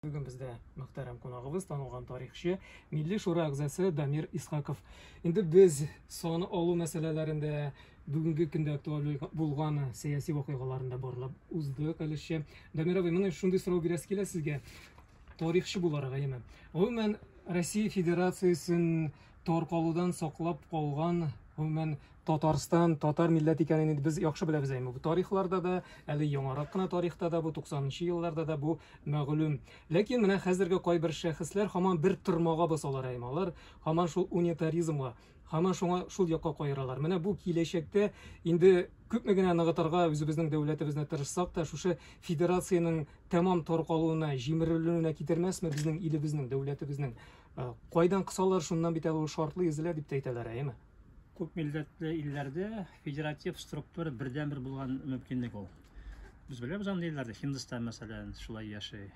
Бүген бездә мөхтәрәм кунагыбыз, танылган тарихчы, Милли шура әгъзасы Дамир Исхаков. Инде без саны алу мәсьәләләрендә бүгенге көндә актуаль булган сәяси вакыйгаларында барлап уздык әлешчә. Дамир абый, менә шундый сорау бирәсе килә сезгә, тарихчы буларак, әйеме? Гомумән, Россия Федерациясен таркалудан саклап калган гомумән Татарстан, татар милләт икәнен инде без яхшы беләбез әйме. Бу тарихларда да, әле яңарак кына тарихта да, бу 90-нчы елларда да бу мәгълүм. Ләкин менә хәзерге кайбер шәхесләр һаман бер тырмага басалар әйме. Алар һаман шул унитаризмга, һаман шуңа шул якка каералар. Менә бу киләчәктә инде күпме генә ныгытырга үзебезнең дәүләтебезне тырышсак та, шушы федерациянең тәмам таркалуына, җимерелүенә китермәсме безнең илебезнең, дәүләтебезнең Ә, кайдан кысалар, шуннан бит әле ул шартлы изелә дип тә әйтәләр, әйеме? Күп милләтле илләрдә федератив структура бердәнбер булган мөмкинлек ул. Без беләбез андый илләрдә, Һиндстан мәсәлән, шулай яши.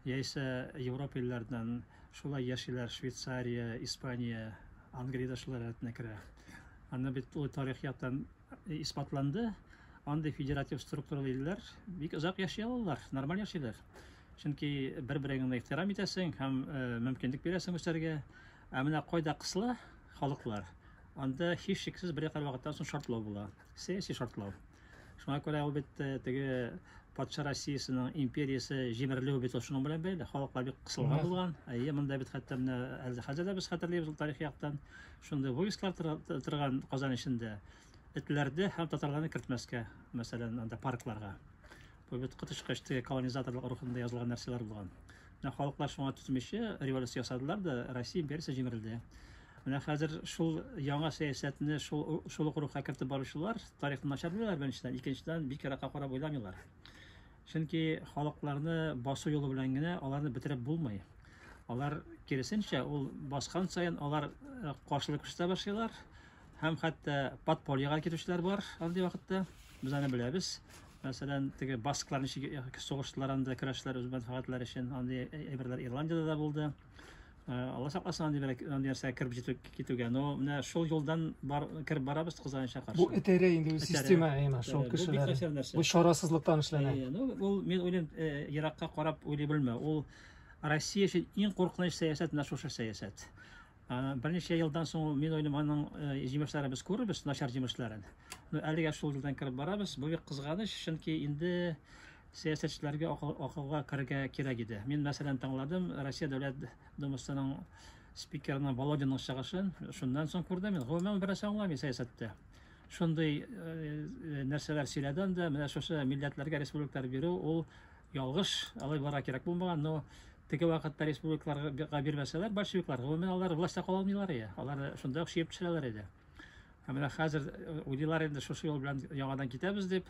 Яисә Европа илләреннән шулай яшиләр, Швейцария, Испания, Англия да шулар рәтенә керә. Аны бит ул тарих яктан исбатланды. Андый федератив структуралы илләр бик озак яши алалар, нормаль яшиләр. Чөнки бер-береңне ихтирам итәсең һәм мөмкинлек бирәсең үсәргә. Ә менә кайда кысыла халыклар, анда һичшиксез бер якыр вакыттан соң шартлау була. Сәяси шартлау. Шуңа күрә ул бит теге патша Россиясенең империясе җимерелүе бит шуның белән бәйле. Халыклар бик кысылган булган. Әйе, монда бит хәтта менә хәзер дә без хәтерлибез ул тарихи яктан. Шундый войсклар торган Казан эчендә этләрдә һәм татарларны кертмәскә, мәсәлән, анда паркларга. Кубит кытышкач теге колонизаторлык рухында язылган нәрсәләр булган. Менә халыклар шуңа төзмичә революция ясадылар да, Россия империясе җимерелде. Менә хәзер шул яңа сәясәтне шул шул ук рухка кертеп баручылар тарихны начар беләләр беренчедән, икенчедән бик еракка карап уйламыйлар. Чөнки халыкларны басу юлы белән генә аларны бетереп булмый. Алар киресенчә, ул баскан саен алар э, каршылык күрсәтә башлыйлар һәм хәтта подпольега китүчеләр бар андый вакытта. Без аны беләбез. Мәсәлән, теге басклар ничек сугыштылар анда, көрәштеләр үз мәнфәгатьләре өчен. Андый әйберләр Ирландиядә дә булды. Алла сакласын андый бер андый нәрсә кереп җитү китүгә. Но менә шул юлдан бар кереп барабыз кызганычка каршы. Бу этәрә инде үз система әйме шул кешеләр. Бу чарасызлыктан эшләнә. Ну, ул мин уйлыйм, еракка карап уйлый белмә. Ул Россия өчен иң куркыныч сәясәт менә шушы сәясәт. Берничә елдан соң, мин уйлыйм, аның җимешләрен без күрербез, начар җимешләрен. Ну, әлегә шул юлдан кереп барабыз. Бу бик кызганыч, чөнки инде сәясәтчеләргә акылга керергә кирәк иде. Мин, мәсәлән, тыңладым Россия Дәүләт Думасының спикерының Володинның чыгышын. Шуннан соң күрдем, мин гомумән бер нәрсә аңламыйм сәясәттә. Шундый нәрсәләр сөйләде анда, менә шушы милләтләргә республикалар бирү, ул ялгыш, алай булырга кирәк булмаган, но Теге вакытта республикаларга бирмәсәләр, большевиклар, гомумән алар властьта кала алмыйлар иде. Алар шунда ук чиеп төшерәләр иде. Ә менә хәзер уйлыйлар инде шушы юл белән яңадан китәбез дип.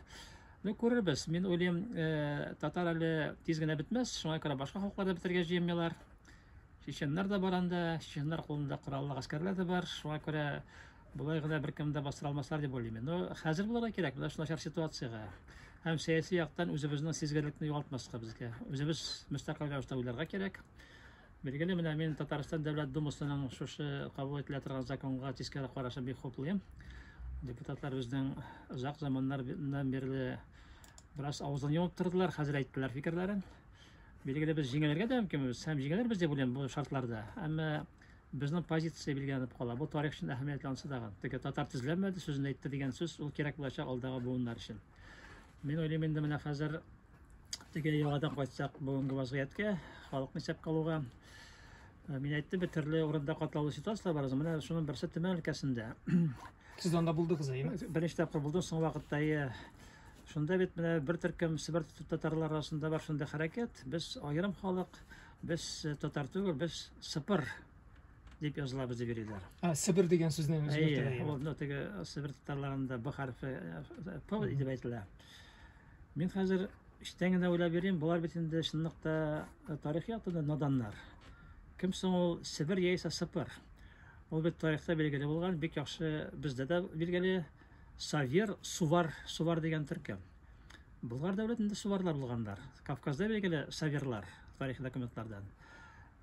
Ну, күрербез. Мин уйлыйм, э, татар әле тиз генә бетмәс, шуңа күрә башка халыклар да бетергә җыенмыйлар. Чеченнар да бар анда, чеченнар кулында кораллы гаскәрләр дә бар, шуңа күрә Болай гына беркем дә бастыра алмаслар дип уйлыйм мин. Но хәзер булырга кирәк, менә шул начар ситуациягә. Һәм сәяси яктан үзебезнең сизгерлекне югалтмаска безгә. Үзебез мөстәкыйль рәвештә уйларга кирәк. Билгеле, менә мин Татарстан Дәүләт Думасының шушы кабул ителә торган законга тискәре карашын бик хуплыйм. Депутатлар безнең озак заманнардан бирле бераз авызын йомып тордылар, хәзер әйттеләр фикерләрен. Билгеле, без җиңелергә дә мөмкинбез һәм җиңелербез дип уйлыйм бу шартларда. Әмма Безнең позиция билгеләнеп кала. Бу тарих өчен әһәмиятле анысы тагын. Теге татар тезләнмәде сүзен әйтте дигән сүз, ул кирәк булачак алдагы буыннар өчен. Мин уйлыйм инде менә хәзер теге яңадан кайтсак бүгенге вазгыятькә, халыкны исәпкә алуга. Э, мин әйттем бит, төрле урында катлаулы ситуацияләр бар. Менә шуның берсе Төмән өлкәсендә. Сез анда булдыгыз, әйеме? Беренче тапкыр булдым соң вакытта, әйе. Шунда бит менә бер төркем Себер татарлары арасында бар шунда хәрәкәт. Без аерым халык, Без э, татар түгел, без сыпыр дип язылабыз дип йөриләр. А, Себер дигән сүзне үзгәртәләр. Әйе, ул мына теге Себер татарларында Б хәрфе э, П дип әйтелә. Мин хәзер эчтән генә уйлап йөрим, болар бит инде чынлыкта э, тарих яктан наданнар. Кем соң ул Себер яисә Сыпыр? Ул бит тарихта билгеле булган, бик яхшы бездә дә билгеле Савер, Сувар, Сувар дигән төркем. Болгар дәүләтендә суварлар булганнар. Кавказда билгеле саверлар тарихи документлардан.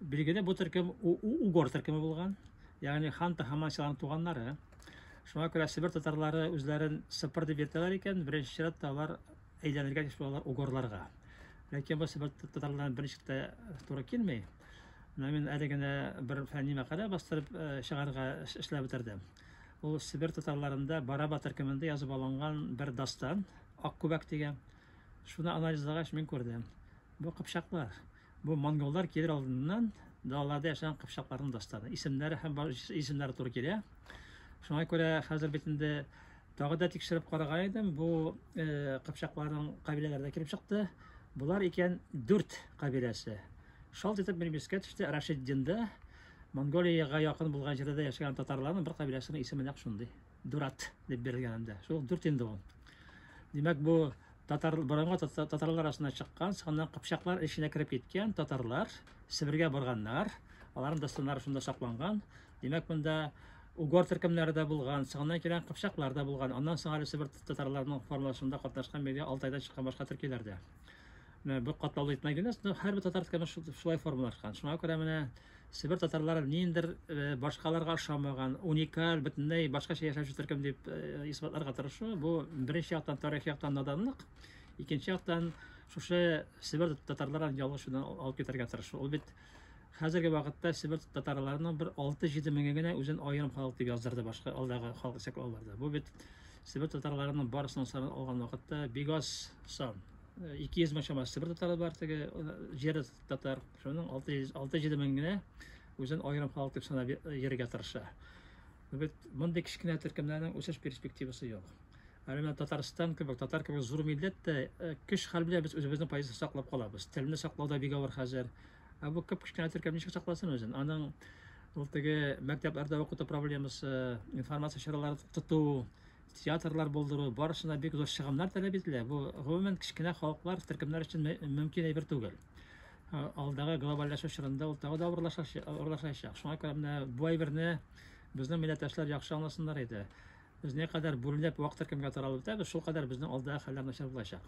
Билгеле бу төркем угор төркеме булган. Ягъни хан Тахаман силарның туганнары. Шуңа күрә Себер татарлары үзләрен сыпыр дип йөртәләр икән, беренче чиратта алар әйләнергә тиеш булалар угорларга. Ләкин бу Себер татарларына беренче тә туры килми. Менә мин әле генә бер фәнни мәкалә бастырып э, чыгарга эшләп бетердем. Ул Себер татарларында Бараба төркемендә язып алынган бер дастан, Ак күбәк дигән. Шуны анализлагач мин күрдем. Бу кыпчаклар. Бу монголлар килер алдыннан далаларда яшәгән кыпчакларның дастаны. Исемнәре һәм исемнәре туры килә. Шуңа күрә хәзер бит инде тагы да тикшереп караган идем. Бу э, кыпчакларның кабиләләрдә килеп чыкты. Болар икән дүрт кабиләсе. Шалт итеп минем искә төште Рашиддинда Монголиягә якын булган җирдә дә яшәгән татарларның бер кабиләсенең исеме нәкъ шундый. Дурат дип бирелгән анда. Шул дүрт инде ул. Димәк, бу татар борынгы татарлар арасына чыккан, соннан кыпчаклар эченә кереп киткән татарлар Себергә барганнар. Аларның дәстурлары шунда сакланган. Димәк, монда угор төркемнәре дә булган, соңыннан килгән кыпчаклар да булган. Аннан соң әле Себер татарларының формалашуында катнашкан биргә Алтайдан чыккан башка төркиләр дә. Менә бу катлаулы итмә генәс, но һәрбер татар тканы шулай формалашкан. Шуңа күрә менә Себер татарлары ниндер э, башкаларга ошамаган, уникаль, бөтенләй башкача яшәүче төркем дип э, исбатларга тырышу, бу беренче яктан тарих яктан наданлык, икенче яктан шушы Себер татарларын ялгыш юлдан алып китәргә тырышу. Ул бит Хәзерге вакытта Себер татарларының бер 6-7 меңе генә үзен аерым халык дип яздырды башка алдагы халык исәплауларда. Бу бит Себер татарларының барысының санын алган вакытта бик аз сан. 200 э, мең чамасы Себер татары бар теге э, җир татар. Шуның 6-7 мең генә үзен аерым халык дип санап йөрергә тырыша. Бу бит мондый кечкенә төркемнәрнең үсеш перспективасы юк. Әле менә Татарстан кебек, татар кебек зур милләт тә көч хәл белән без үзебезнең позиция саклап калабыз. Телне саклау да бик авыр хәзер. Ә бу кып кечкенә төркем ничек сакласын үзен? Аның ул теге мәктәпләрдә укыту проблемасы, информация чаралары тоту, театрлар булдыру, барысына бик зур чыгымнар таләп ителә. Бу гомумән кечкенә халыклар, төркемнәр өчен мөмкин әйбер түгел. Алдагы глобальләшү чорында ул тагы да авырлашачак. Шуңа күрә менә бу әйберне безнең милләттәшләр яхшы аңласыннар иде. Без не кадәр бүлдәп вак төркемгә таралып үтәбез, шул кадәр безнең алда хәлләр начар булачак.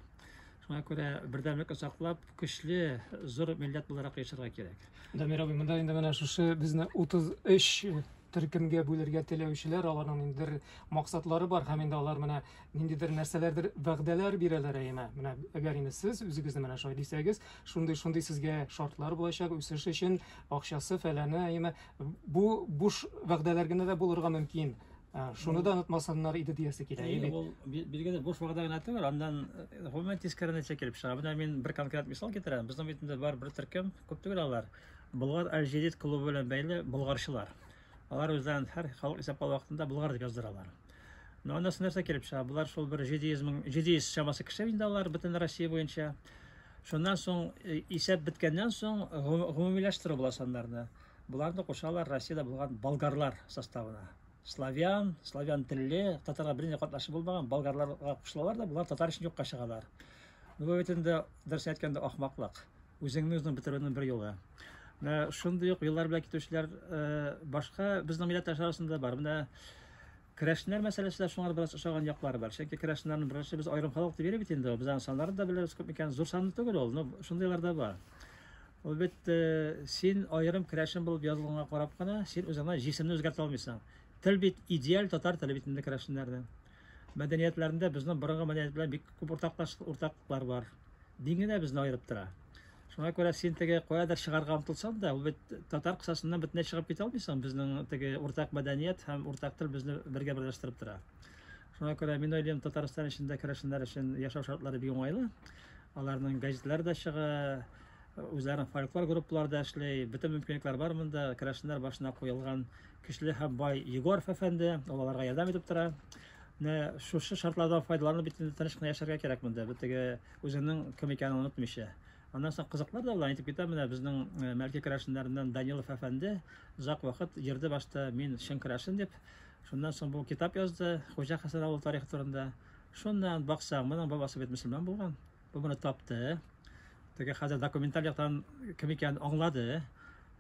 Шуңа күрә бердәмлек саклап, көчле, зур милләт буларак яшәргә кирәк. Дамир абый, монда инде менә шушы безне 33 төркемгә бүлергә теләүчеләр, аларның ниндидер максатлары бар һәм инде алар менә ниндидер нәрсәләрдер вәгъдәләр бирәләр әйме. Менә әгәр инде сез үзегезне менә шулай дисәгез, шундый шундый сезгә шартлар булачак үсеш өчен, акчасы фәләне әйме. Бу буш вәгъдәләр генә дә булырга мөмкин. Шуны да онытмасыннар иде диясе килә. Әйе, ул билгеле буш вәгъдә генә түгел, аннан гомумән э, тискәре нәтиҗә килеп чыга. Менә мин бер конкрет мисал китерәм. Безнең бит инде бар бер төркем, күп түгел алар. Болгар Аль-Җадид клубы белән бәйле болгарчылар. Алар үзләрен һәр халык исәплау вакытында болгар дип яздыралар. Но аннасы нәрсә килеп чыга? Булар шул бер җидиизмның җидииз чамасы кеше инде алар бөтен Россия буенча. Шуннан соң э, исәп беткәннән соң гомумиләштерү була саннарны. Боларны кушалар Россиядә булган болгарлар составына. Славян, славян телле, татарга бернинди катнашы булмаган болгарларга кушылалар да, болар татар өчен юкка чыгалар. Ну, бу бит инде дөрес әйткәндә ахмаклык. Үзеңне үзең бетерүнең бер юлы. Шундый ук юллар белән китүчеләр э, башка безнең милләттәшләр арасында бар. Менә Керәшеннәр мәсьәләсе дә шуңа бераз ошаган яклары бар. Чөнки керәшеннәрне берәрчә без аерым халык дип йөри бит инде ул. Без аның саннарын да беләбез күп микән. Зур санлы түгел ул, но шундыйлар да бар. Ул бит э, син аерым керәшен булып язылганга карап кына, син үзеңне җисемне үзгәртә алмыйсың. Тел бит идеаль татар теле бит инде керәшеннәрнең. Мәдәниятләрендә безнең борынгы мәдәният белән бик күп уртаклашлыклар бар. Дин генә безне аерып тора. Шуңа күрә син теге каядыр чыгарга омтылсаң да, ул бит татар кысасыннан бөтенләй чыгып китә алмыйсың. Безнең теге уртак мәдәният һәм уртак тел безне бергә берләштереп тора. Шуңа күрә мин уйлыйм, Татарстан эчендә керәшеннәр өчен яшәү шартлары бик уңайлы. Аларның газетлары да чыга, үзләренең фольклор группалары да эшли. Бөтен мөмкинлекләр бар монда. Керәшеннәр башына куелган көчле һәм бай Егоров әфәнде, ул аларга ярдәм итеп тора. Менә шушы шартлардан файдаланып бит инде тыныч кына яшәргә кирәк монда. Бу теге Үзенең кем икәнен онытмыйча. Аннан соң кызыклар да була, әйтеп китәм, менә безнең э, Мәрки керәшеннәреннән Данилов әфәнде озак вакыт йөрде башта, мин чын керәшен дип. Шуннан соң бу китап язды, Хуҗа Хәсән авыл тарихы турында. Шуннан баксаң, моның бабасы бит мөселман булган. Бу моны тапты. Теге хәзер документаль яктан кем икәнен аңлады.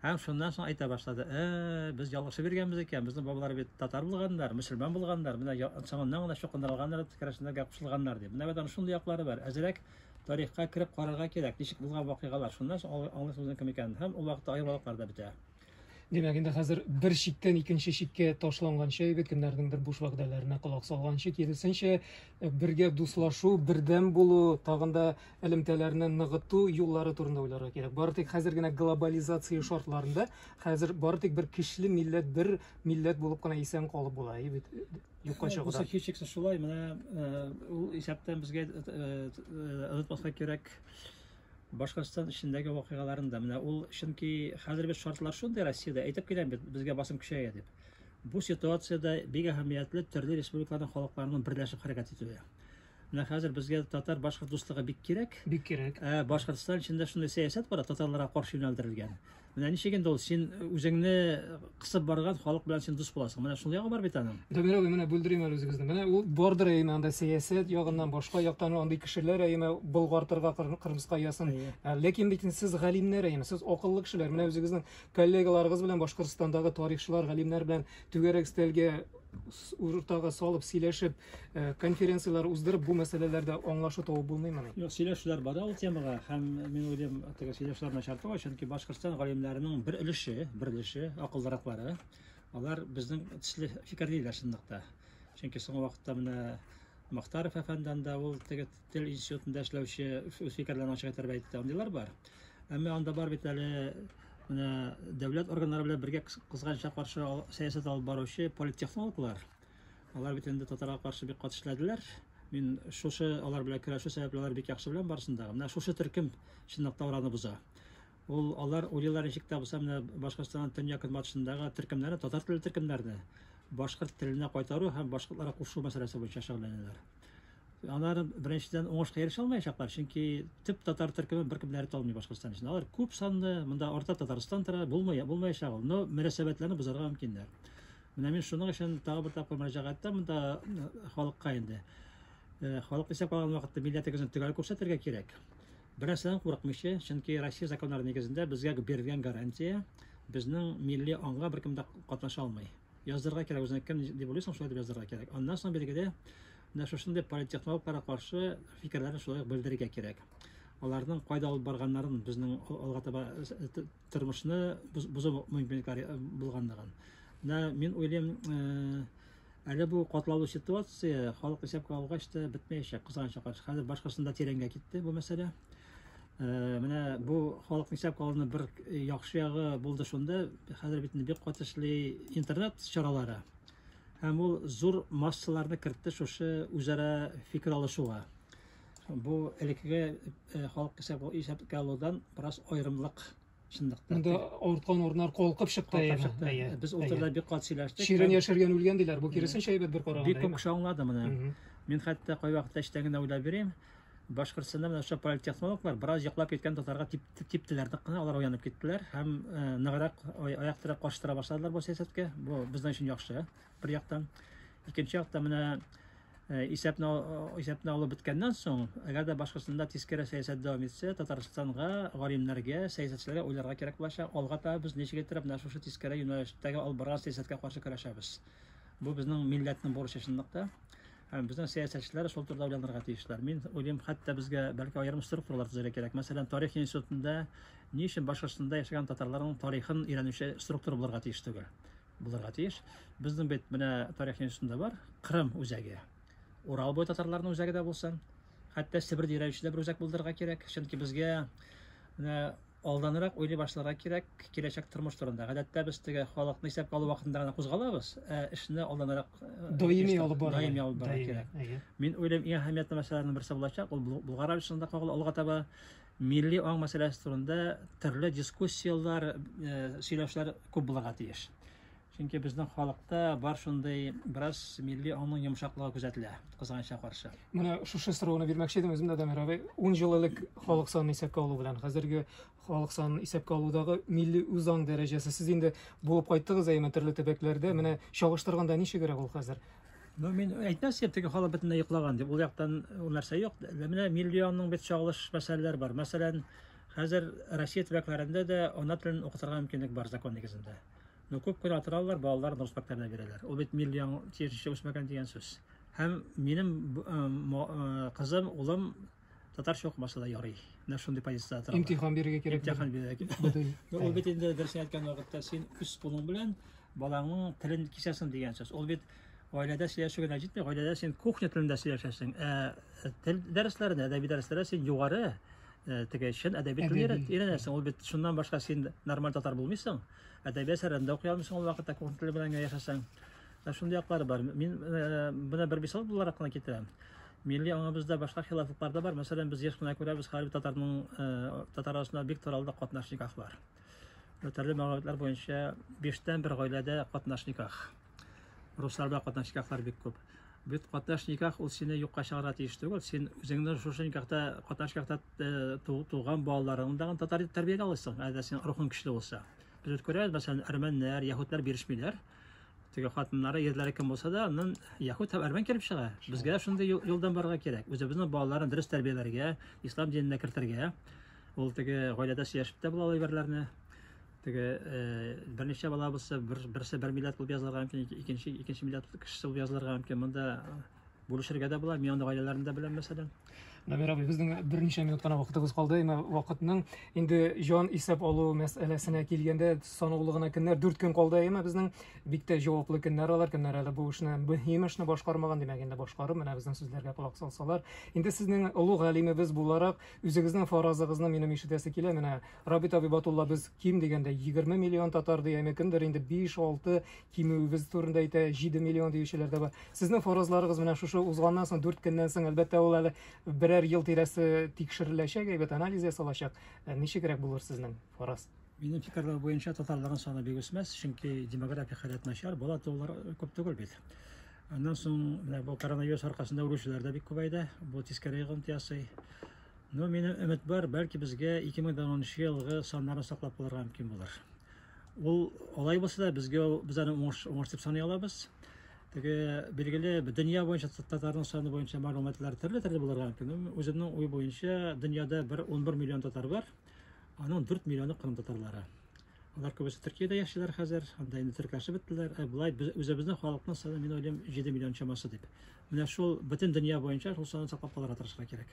Һәм шуннан соң әйтә башлады, Ә, без ялгышып йөргәнбез икән, безнең бабалар бит татар булганнар, мөселман булганнар, менә соңыннан гына чукындырылганнар, керәшеннәргә кушылганнар, дип. Менә бит аның шундый яклары бар. Әзрәк тарихка кереп карарга кирәк, ничек булган вакыйгалар. Шуннан соң аңлый- аңлыйсыз үзенең кем икәнен. Һәм ул вакытта аермалыклар да бетә. Димәк, инде хәзер бер чиктән икенче чиккә ташланганчы егет, кемнәрнеңдер буш вәгъдәләренә колак салганчы, киресенчә, бергә дуслашу, бердәм булу, тагын да элемтәләрне ныгыту юллары турында уйларга кирәк. Бары тик хәзер генә глобализация шартларында хәзер бары тик бер кишле милләт, бер милләт булып кына исән калып була. И бит юкка чыгуда. Бу һичшиксез шулай. Менә э, ул исәптән безгә онытмаска э, э, кирәк Башкортстан эчендәге вакыйгаларын да. Менә ул чөнки хәзер без шартлар шундый Россиядә әйтеп киләм бит, безгә басым көчәя дип. Бу ситуациядә бик әһәмиятле төрле республикаларның халыкларының берләшеп хәрәкәт итүе. Менә хәзер безгә татар-башкорт дуслыгы бик кирәк. Бик кирәк. Ә Башкортстан эчендә шундый сәясәт бар, татарларга каршы юнәлдерелгән. Менә ничек инде ул син үзеңне кысып барган халык белән син дус буласың. Менә шул ягы бар бит аның. Дамир абый, менә бүлдерим әле үзегезне. Менә ул бардыр әйме анда сәясәт ягыннан башка яктан андый кешеләр әйме болгартырга Кырмыска ясын. Ә, ләкин бит сез галимнәр әйме, сез акыллы кешеләр. Менә үзегезнең коллегаларыгыз белән Башкортстандагы тарихчылар, галимнәр белән түгәрәк стәлгә уртага салып сөйләшеп Э, конференцияләр уздырып, бу мәсьәләләрдә аңлашу табып булмыймыни? Юк, сөйләшүләр бара ул темага һәм мин уйлыйм, теге сөйләшүләр начарты бар, чөнки Башкортстан галимнәренең бер өлеше, бер өлеше, акыллыраклары, алар безнең төсле фикерлиләр чынлыкта. Чөнки соңгы вакытта менә Мохтаров әфәндән дә ул теге тел институтында эшләүче үз фикерләрен ачык итәрбә әйтте, андыйлар бар. Әмма анда бар бит әле менә дәүләт органнары белән бергә кызганча каршы сәясәт алып баручы политтехнологлар, Алар бит инде татарга каршы бик кат эшләделәр. Мин шушы алар белән көрәшү сәбәпле алар бик яхшы беләм барысын да. Менә шушы төркем чынлап та араны боза. Ул алар уйлыйлар ничек тә булса менә Башкортстанның төньяк-көнбатышындагы төркемнәрне, татар телле төркемнәрне башкорт теленә кайтару һәм башкортларга кушу мәсьәләсе буенча шөгыльләнәләр. Алар беренчедән уңышка ирешә алмаячаклар, чөнки төп татар төркеме беркем дә ята алмый Башкортстан өчен. Алар күп санлы, монда арта Татарстан тора, булмый, булмаячак ул. Но мөнәсәбәтләрне бозарга мөмкиннәр. Менә мин шуның өчен тагы бер тапкыр мөрәҗәгать итәм монда халыкка инде. Э, халык исәп алган вакытта милләтегезне төгәл күрсәтергә кирәк. Бернәрсәдән курыкмыйча, чөнки Россия законнары нигезендә безгә бирелгән гарантия безнең милли аңга беркем дә катнаша алмый. Яздырырга кирәк үзеңә кем дип уйлыйсың, шулай дип яздырырга кирәк. Аннан соң билгеле, менә шушындый политтехнологларга каршы фикерләрне шулай ук белдерергә кирәк. Аларның кайда алып барганнарын безнең алга таба э, тормышны бозу мөмкинлекләре э, булганлыгын. Менә мин уйлыйм, э, әле бу катлаулы ситуация халык исәпкә алгач та бетмәячәк, кызганычка каршы. Хәзер башкасында тирәнгә китте бу мәсьәлә. Э, менә бу халыкны исәпкә алуның бер яхшы ягы булды шунда, хәзер бит бик каты интернет чаралары. Һәм ул зур массаларны кертте шушы үзара фикер алышуга. Бу элеккеге э, халык исәп исәпкә алудан бераз аерымлык чынлыкта. Монда авырткан урыннар калкып чыкты. Калкып чыкты. Әйе. Без утырда бик кат сөйләштек. Ширен яшәргән үлгән диләр. Бу киресенчә әйбәт бер караганда. Бик күп кеше аңлады моны. Мин хәтта кай вакытта эчтән генә уйлап бирәм. Башкортстанда менә шул политтехнологлар бераз яклап киткән татарга тип, типтеләр нык кына, алар уянып киттеләр һәм э, ныграк аяк терәп каршы тора башладылар бу сәясәткә. Бу безнең өчен яхшы. бер яктан. Икенче яктан менә э, исәпне исәпне алып беткәннән соң, әгәр дә башкасында тискәре сәясәт дәвам итсә, Татарстанга, галимнәргә, сәясәтчеләргә уйларга кирәк булачак. Алга таба без ничек итеп менә шушы тискәре юнәлештәге алып барган сәясәткә каршы көрәшәбез. Бу безнең милләтнең бурычы чынлыкта. Һәм безнең сәясәтчеләр шул турыда уйланырга тиешләр. Мин уйлыйм, хәтта безгә бәлки аерым структуралар төзергә кирәк. Мәсәлән, тарих институтында ни өчен башкортстанда яшәгән татарларның тарихын өйрәнүче структура булырга тиеш түгел? булырга тиеш. Безнең бит менә тарих институтында бар, Кырым үзәге. Урал буе татарларының үзәге дә булсын. Хәтта Себер дирәюче дә бер үзәк булдырырга кирәк. Чөнки безгә менә алданрак уйлый башларга кирәк киләчәк тормыш турында. Гадәттә без теге халыкны исәпкә алу вакытында гына кузгалабыз, ә эшне алданрак э, даими алып барырга даими алып барырга кирәк. Мин уйлыйм, иң әһәмиятле мәсьәләләрнең берсе булачак, ул Болгар Авишында кагыла алга таба. Милли аң мәсьәләсе турында төрле дискуссияләр, сөйләшләр күп булырга тиеш. Чөнки безнең халыкта бар шундый бераз милли аңның йомшаклыгы күзәтелә, кызганычка каршы. Менә шушы сорауны бирмәкче идем үзем дә Дамир абый. 10 ел элек халык санын исәпкә алу белән хәзерге халык санын исәпкә алудагы милли үзаң дәрәҗәсе сез инде булып кайттыгыз әйеме төрле төбәкләрдә. Менә чагыштырганда ничегрәк ул хәзер? Ну, мин әйтмәс идем, теге халык бөтенләй йоклаган дип. Ул яктан ул нәрсә юк. Менә миллионның бит чагылыш мәсьәләләр бар. Мәсәлән, хәзер Россия төбәкләрендә дә ана телен укытырга мөмкинлек бар закон нигезендә. Ну, күп кенә атыралар, балалар рус мәктәбенә бирәләр. Ул бит миллион тиешенчә үсмәгән дигән сүз. Һәм минем кызым, улым татарча укымаса да ярый. Менә шундый позициядә тора. Имтихан бирергә кирәк. Имтихан бирергә кирәк. Ул бит инде дөрес әйткән вакытта син үз кулың белән балаңның телен кисәсең дигән сүз. Ул бит гаиләдә сөйләшү генә җитми, гаиләдә син кухня телендә сөйләшәсең. Ә э, тел дәресләрендә, әдәби дәресләрдә син югары э, теге чын әдәби телне өйрәнәсең. Ул бит шуннан башка син нормаль татар булмыйсың. Әдәби әсәрләрендә укый алмыйсың ул вакытта кухня теле белән генә яшәсәң. Ә шундый яклары бар. Мин менә бер мисал буларак кына китерәм. Милли аңыбызда башка хилафлыклар да бар. Мәсәлән, без еш кына күрәбез, хәрби татарның татар арасында бик таралды катнаш никахлар. Төрле мәгълүматлар буенча, биштән бер гаиләдә катнаш никах. Русларда катнаш никахлар бик күп. Бит катнаш никах ул сине юкка чыгарга тиеш түгел. Син үзеңне шушы никахта, катнаш никахта туган балаларыңны тагын татар итеп тәрбияләп аласың, әгәр син рухың көчле булса. Без үткәрәбез, мәсәлән, әрмәннәр, яһүдләр бирешмиләр. Теге хатыннары, ерләре кем булса да, аннан яһүд һәм әрмән килеп чыга. Безгә шундый юлдан барырга кирәк. Үзебезнең балаларын дөрес тәрбияләргә, ислам диненә кертергә. Ул теге гаиләдә сөйләшеп тә була әйберләрне. Теге э, берничә бала булса, бер, берсе бер милләт булып язылырга мөмкин, икенче икенче милләт кешесе булып язылырга мөмкин. Монда Бүлешергә дә була, мин аны гаиләләрен дә беләм, мәсәлән. Набир абый, безнең берничә минут кына вакытыбыз калды. Әмма вакытның инде җан исәп алу мәсьәләсенә килгәндә санаулы гына көннәр, дүрт көн калды. Әмма безнең бик тә җаваплы көннәр алар. Көннәр әле бу эшне, мөһим эшне башкармаган, димәк, инде башкарып, менә безнең сүзләргә колак салсалар. Инде сезнең олуг галимебез буларак, үзегезнең фаразыгызны минем ишетәсе килә. Менә Рабит Абибатулла без ким дигәндә 20 миллион татар ди, әмма кемдер инде 5, 6, кимүебез турында әйтә, 7 миллион диючеләр дә бар. Сезнең фаразларыгыз менә шушы узганнан соң 4 көннән соң, әлбәттә, ул әле берәр ел тирәсе тикшереләчәк, әйбәт анализ ясалачак. Ә Ничегрәк булыр сезнең фараз? Минем фикерләр буенча татарларның саны бик үсмәс, чөнки демографик халәт начар, бала туулар күп түгел бит. Аннан соң менә бу коронавирус аркасында үлүчеләр дә бик күбәйде, бу тискәре йогынты ясый. Но минем өмет бар, бәлки безгә 2010 елгы саннарны саклап калырга мөмкин булыр. Ул алай булса да безгә без аны уңыш уңыш дип саный алабыз. Теге билгеле дөнья буенча татарның саны буенча мәгълүматлар төрле-төрле булырга мөмкин. Үземнең уй буенча дөньяда бер 11 миллион татар бар. Аның 4 миллионы кырым татарлары. Алар күбесе Төркиядә яшиләр хәзер, анда инде төркәшеп беттеләр. Ә болай без үзебезнең халыкның саны мин уйлыйм 7 миллион чамасы дип. Менә шул бөтен дөнья буенча шул санны саклап калырга тырышырга кирәк.